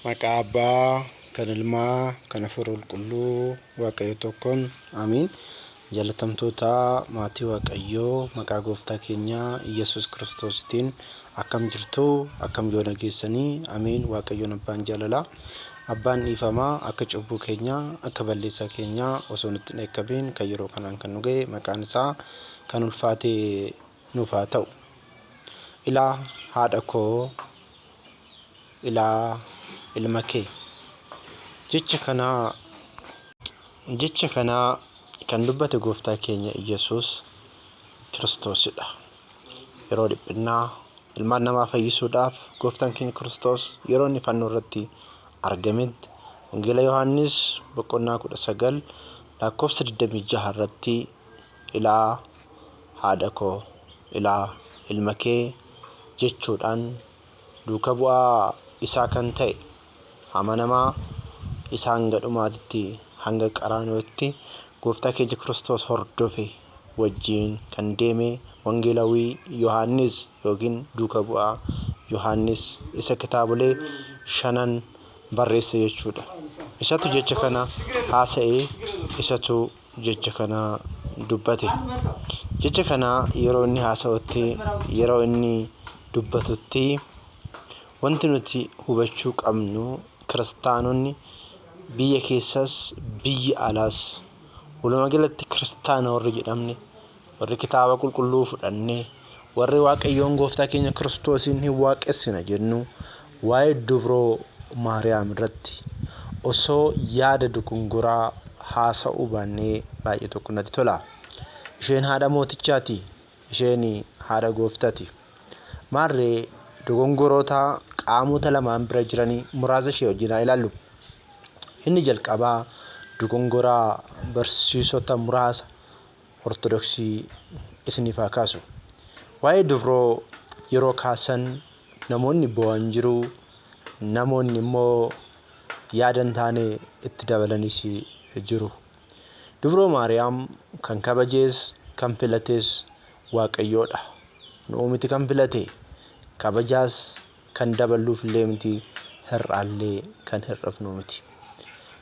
Maqaa Abbaa, kan Ilmaa, kan Hafuura Qulqulluu Waaqayyo tokkoon Amiin. Jaalatamtoota maatii Waaqayyoo maqaa gooftaa keenya Iyyasuus Kiristoositiin akkam jirtu akkam yoo nageessanii Amiin Waaqayyoon abbaan jaalalaa abbaan dhiifamaa akka cubbuu keenyaa akka balleessaa keenyaa osoo nutti hin eekkabiin kan yeroo kanaan kan nu ga'e maqaan isaa kan ulfaate nuuf haa ta'u. Ilaa haadha koo ilaa ilma kee. Jecha kanaa jecha kanaa kan dubbate gooftaa keenya Iyyasuus Kiristoosidha. Yeroo dhiphinnaa ilmaan namaa fayyisuudhaaf gooftaan keenya Kiristoos yeroo inni fannoo irratti argametti Wangeela Yohaannis boqonnaa 19 lakkoofsa 26 irratti ilaa haadha koo, ilaa ilma kee jechuudhaan duuka bu'aa isaa kan ta'e amanamaa isa hanga dhumaatitti, hanga qaraaniyootti gooftaa keenya Kiristoos hordofe wajjiin kan deeme wangeelawii Yohaannis ykn duuka bu'aa Yohaannis isa kitaabolee shanan barreesse jechuudha. Isatu jecha kana haasa'e, isatu jecha kana dubbate. Jecha kana yeroo inni haasa'utti, yeroo inni dubbatutti wanti nuti hubachuu qabnu kiristaanonni biyya keessas biyya alaas walumaa galatti kiristaana warri jedhamne warri kitaaba qulqulluu fudhanne, warri Waaqayyoon gooftaa keenya Kiristoosiin hin waaqessina jennu waa'ee dubroo Maariyaam irratti osoo yaada dukunguraa haasa'uu baannee baay'ee tokko natti tola. Isheen haadha mootichaati. Isheen haadha gooftati. Maarree dogongoroota qaamota lamaan bira jiranii muraasa ishee wajjin haa ilaallu. Inni jalqabaa dogongoraa barsiisota muraasa Ortodoksii isiniif haa kaasu. Waa'ee dubroo yeroo kaasan namoonni boo'an jiru, namoonni immoo yaada hin taane itti dabalanis jiru. Dubroo Maariyaam kan kabajees kan filatees Waaqayyoodha. Nu'u miti kan filate. Kabajaas kan daballuuf illee miti, hir'aallee kan hir'ifnu miti.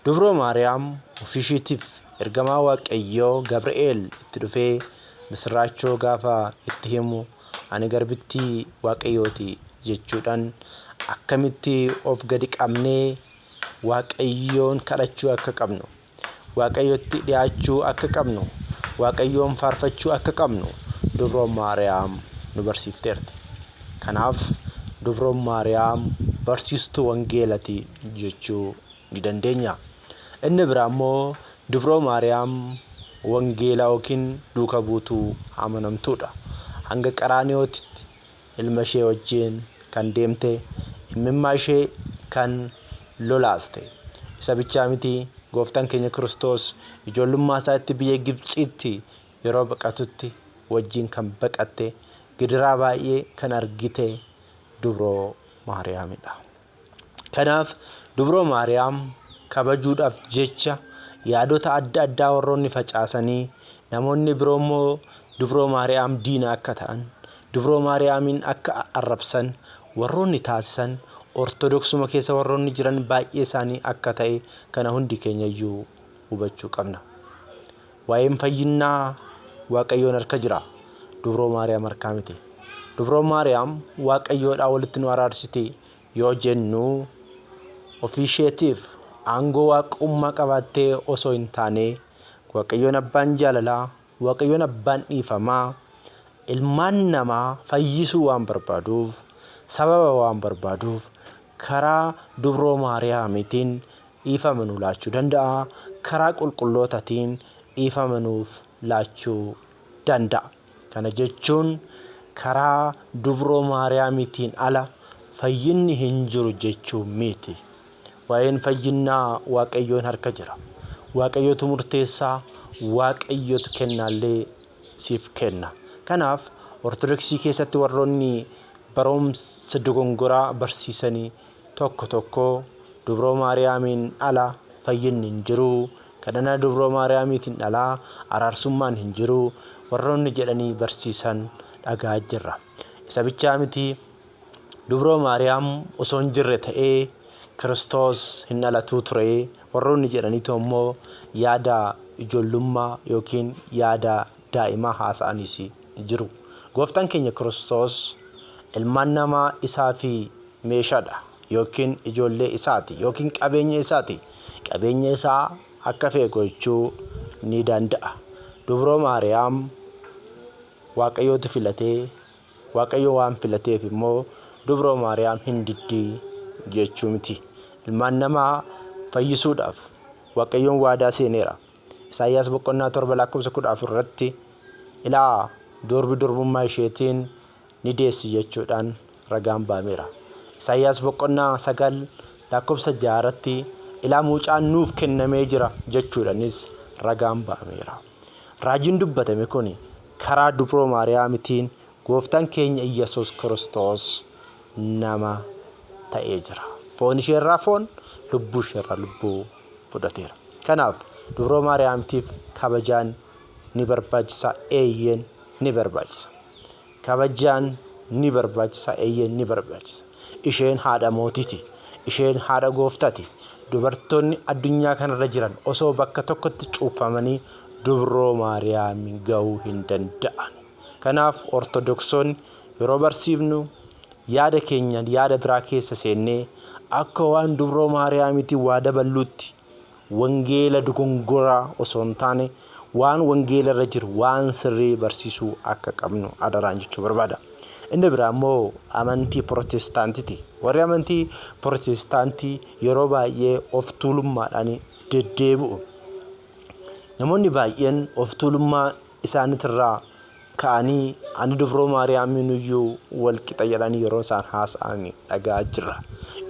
Dubroo Maariyaam ofiishiitiif ergamaa Waaqayyoo Gabri'eel itti dhufee misirraachoo gaafa itti himu ani garbittii Waaqayyooti jechuudhaan akkamitti of gadi qabnee Waaqayyoon kadhachuu akka qabnu Waaqayyotti dhi'aachuu akka qabnu, Waaqayyoon faarfachuu akka qabnu Dubroon Maariyaam nu barsiifteerti. Kanaaf Dubroon Maariyaam barsiistuu wangeelati jechuu ni dandeenya. Inni biraa immoo Dubroo Maariyaam wangeela yookiin duuka buutuu amanamtuudha. Hanga Qaraaniyootitti Ilma ishee wajjin kan deemte, immimmaa ishee kan lolaaste. Isa bichaa miti, Gooftaan keenya Kiristoos ijoollummaa isaatti biyya Gibtsiitti yeroo baqatutti wajjin kan baqatte, gidiraa baay'ee kan argite dubroo Maariyaamidha. Kanaaf, Dubroo Maariyaam kabajuudhaaf jecha yaadota adda addaa warroonni facaasanii, namoonni biroo immoo Dubroo Maariyaam diina akka ta'an, Dubroo Maariyaamiin akka arrabsan warroonni taasisan Ortodoksuma keessa warroonni jiran baay'ee isaanii akka ta'e kana hundi keenya iyyuu hubachuu qabna. Waa'een fayyinnaa Waaqayyoon harka jira. Dubroo Maariyaam harkaa miti. Dubroon Maariyaam Waaqayyoodhaa walitti nu araarsiti yoo jennu ofiisheetiif aangoo waaqummaa qabaattee osoo hin taane Waaqayyoon abbaan jaalalaa, Waaqayyoon abbaan dhiifamaa ilmaan namaa fayyisuu waan barbaaduuf, sababa waan barbaaduuf karaa dubroo Maariyaamiitiin dhiifama nuu laachuu danda'a, karaa qulqullootatiin dhiifama nuuf laachuu danda'a. Kana jechuun karaa dubroo Maariyaamitiin ala fayyinni hin jiru jechuu miiti. Waa'een fayyinnaa Waaqayyoon harka jira. Waaqayyotu murteessa, Waaqayyotu kennaallee siif kenna. Kanaaf Ortodoksii keessatti warroonni baroomsa dogongoraa barsiisanii tokko tokko dubroo maariyaamiin ala fayyinni hin jiru kadhana dubroo maariyaamiitiin ala araarsummaan hin jiru warroonni jedhanii barsiisan dhaga'aa jirra isa bichaa miti dubroo maariyaam osoo hin jirre ta'ee kiristoos hin dhalatuu ture warroonni jedhaniitoo immoo yaada ijoollummaa yookiin yaada daa'imaa haasa'aniis jiru. Gooftaan keenya Kiristoos ilmaan namaa isaa fi meeshaadha yookiin ijoollee isaati yookiin qabeenya isaati. Qabeenya isaa akka fe'e gochuu ni danda'a. Dubroo Maariyaam Waaqayyootu filatee Waaqayyo waan filateef immoo dubroo Maariyaam hin diddii jechuu miti. Ilmaan namaa fayyisuudhaaf Waaqayyoon waadaa seeneera. Isaayyaas boqonnaa 7 lakkoofsa 14 irratti ilaa durbi durbummaa isheetiin ni deessi jechuudhaan ragaan baameera. Isaayyaas boqonnaa 9 lakkoofsa 6 irratti ilaa mucaan nuuf kennamee jira jechuudhanis ragaan baameera. Raajiin dubbatame kun karaa dubroo Maariyaamitiin gooftaan keenya Iyyasuus Kiristoos nama ta'ee jira. Foon isheerraa foon, lubbuu isheerraa lubbuu. fudhateera. Kanaaf, Dubroo Maariyaamtiif kabajaan ni barbaachisaa? Eeyyeen ni barbaachisa. Kabajaan ni barbaachisaa? Eeyyeen ni barbaachisa. Isheen haadha mootiti. Isheen haadha gooftati. Dubartoonni addunyaa kanarra jiran osoo bakka tokkotti cuuffamanii Dubroo Maariyaam ga'uu hin danda'an. Kanaaf Ortodoksoonni yeroo barsiifnu yaada keenya yaada biraa keessa seennee akka waan Dubroo Maariyaamiitiin waa daballuutti wangeela dogongoraa osoo hin taane waan wangeela irra jiru waan sirrii barsiisuu akka qabnu adaraan jechuu barbaada. Inni biraa immoo amantii Pirotestaantiti. Warri amantii Pirotestaantii yeroo baay'ee of tuulummaadhaan deddeebi'u. Namoonni baay'een of tuulummaa isaanitirraa ka'anii ani dubroo Maariyaamiinuyyuu wal qixa jedhanii yeroo isaan haasa'an dhaga'aa jirra.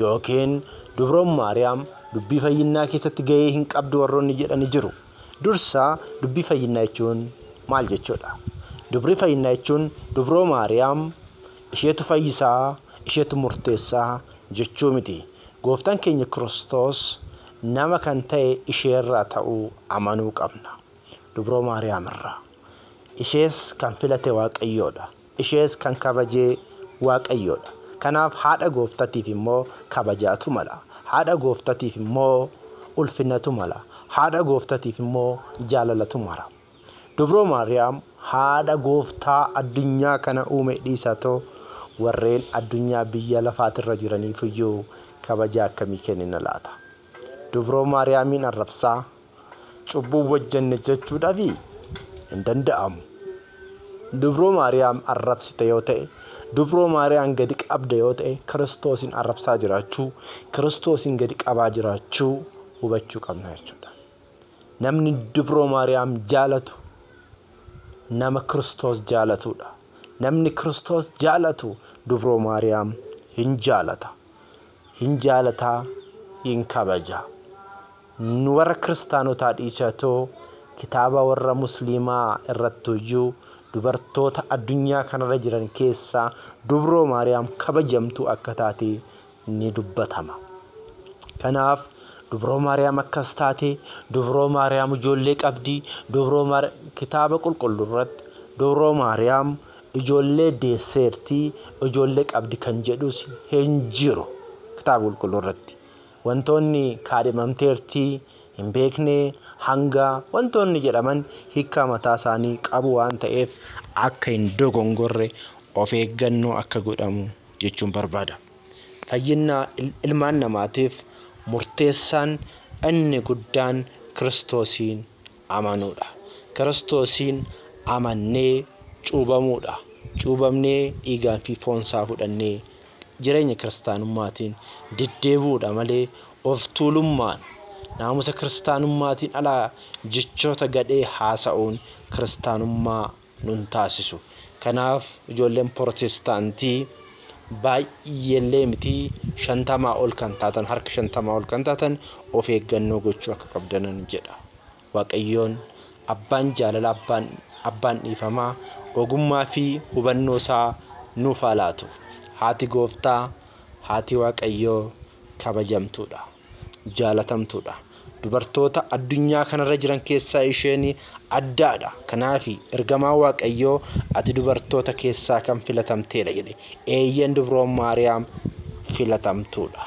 Yookiin dubroon Maariyaam dubbii fayyinnaa keessatti ga'ee hin qabdu warroonni jedhani jiru. Dursa dubbii fayyinnaa jechuun maal jechuudha? Dubrii fayyinnaa jechuun dubroo Maariyaam isheetu fayyisaa, isheetu murteessaa jechuu miti. Gooftaan keenya Kiristoos nama kan ta'e isheerraa ta'uu amanuu qabna. Dubroo Maariyaam irraa. Ishees kan filate Waaqayyoodha. Ishees kan kabajee Waaqayyoodha. Kanaaf haadha gooftatiif immoo kabajaatu mala. Haadha gooftatiif immoo ulfinatu mala. Haadha gooftatiif immoo jaalalatu mara. Dubroo Maariyaam haadha gooftaa addunyaa kana uume dhiisaatoo warreen addunyaa biyya lafaatirra jiraniifuyyuu kabajaa akkamii kennina laata? Dubroo Maariyaamiin arrabsaa, cubbuu hojjenne jechuudhaafi? Hin danda'amu. Dubroo Maariyaam arrabsite yoo ta'e, dubroo Maariyaam gadi qabda yoo ta'e, Kiristoosiin arrabsaa jiraachuu, Kiristoosiin gadi qabaa jiraachuu hubachuu qabna jechuudha. Namni dubroo Maariyaam jaalatu nama Kiristoos jaalatudha. Namni Kiristoos jaalatu dubroo Maariyaam hin jaalata. Hin jaalataa hin kabaja. Nu warra kiristaanotaa dhiisatoo kitaaba warra musliimaa irrattuyyuu dubartoota addunyaa kanarra jiran keessaa dubroo maariyaam kabajamtuu akka taate ni dubbatama. Kanaaf dubroo maariyaam akkas taate, dubroo maariyaam ijoollee qabdi, dubroo maariyaam kitaaba qulqulluu irratti dubroo maariyaam Ijoollee deesseerti, ijoollee qabdi kan jedhus hin jiru. Kitaaba Qulqulluu irratti wantoonni kaadhimamteerti, hin beekne, hanga wantoonni jedhaman hiikkaa mataa isaanii qabu waan ta'eef akka hin dogongorre of eeggannoo akka godhamu jechuun barbaada. Fayyinna ilmaan namaatiif murteessaan inni guddaan Kiristoosiin amanuudha. Kiristoosiin amannee cuubamuudha. Cuubamnee dhiigaan fi foon isaa fudhannee jireenya kiristaanummaatiin deddeebi'uudha malee of tuulummaan naamusa kiristaanummaatiin alaa jechoota gadhee haasa'uun kiristaanummaa nun taasisu. Kanaaf ijoolleen Pirootestaantii baay'eellee miti shantamaa ol kan taatan harka shantamaa ol kan taatan of eeggannoo gochuu akka qabdanan jedha. Waaqayyoon abbaan jaalalaa abbaan abbaan dhiifamaa ogummaa fi hubannoo isaa nuuf haa laatu. Haati gooftaa haati waaqayyoo kabajamtuudha. jaalatamtuudha. Dubartoota addunyaa kanarra jiran keessaa isheen addaadha. Kanaaf ergamaa Waaqayyoo ati dubartoota keessaa kan filatamteedha jedhe. Eeyyeen dubroon Maariyaam filatamtuudha.